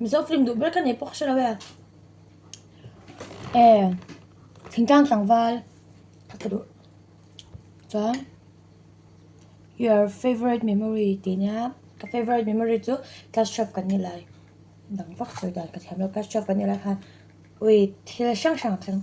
Mizo film duh ber ka nei pawh ka hre lo e. Eh, thingtang tlangval ka tla duh. Chuan your favourite memory tih nia ka favourite memory chu class twelve kan ni lai dang vak sawi dan ka thiam lo class twelve kan ni lai khan ui thil hrang hrang a thleng.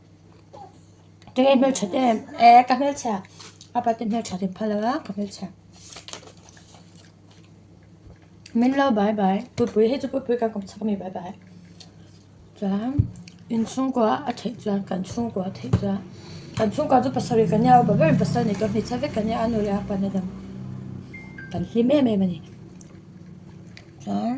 Kei hmelchhe te eh ka hmelchhe a apa te hmelchhe te phal a ka hmelchhe min lo bai bai pupui hi chu pupui ka kom chak mi bai bai chuan in chhungkua a theih chuan kan chhungkua a theih chuan kan chhungkua chu pasarih ka nia bawk in pasal nei tur hmeichhia vek ka nia a nu leh a pa na dang kan hlim em em a ni chuan.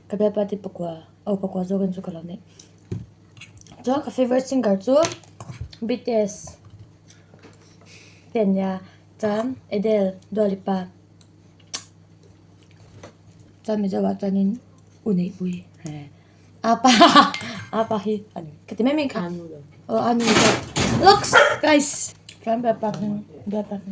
Ka bial party pakua oh pakua zawk in chu ka lo neih chuan ka favorite singer chu BTS ten nia chuan Adele Dua Lipa chuan mizo ah chuan in u neih pui he apa apa hi ani ka ti mai mai kha oh anu looks guys chuan bial party bial party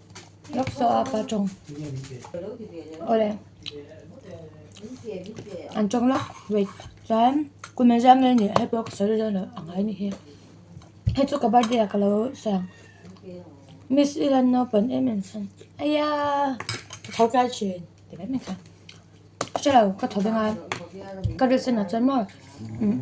Lawksawha pa tawng awle an tawng lawk wait chuan kumin zam mai nih hei pawh ka sawi dawn lo ang ai nihi hei chu ka birthday ah ka lo sawi ang miss i lan naupan em em chuan aiya ka tho tlai thin ti mai mai chuan ka hre lo ka tho veng a ka dress sen ah chuan maw umm.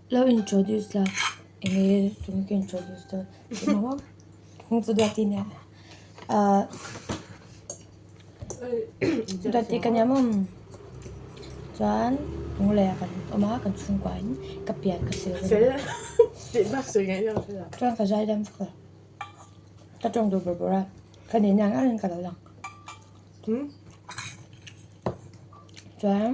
Lo introduce la engee tun ka introduce dawn emaw kawng chu duati nia ahh duati ka nia mawm chuan hnung laia kan awm a kan chhungkua in ka pian ka sil ka nia chuan ka zai dam vek a ka tawng duh bur bur a ka nih na ngai in ka lo lang chuan.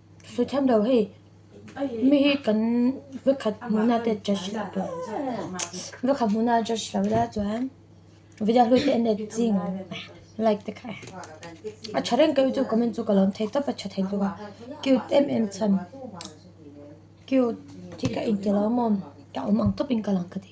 Suithiam lo hei, mi hi kan va khat hmun ate judge lo tawh a, va khat hmun a judge lo la chuan video hlut te net zing like te khai a tha reng keu chu comment chu ka lawm thei tawp a tha thei bawk a cute em em chhan cute hi ka inti lo maw ka awm ang tawp in ka lang ka ti.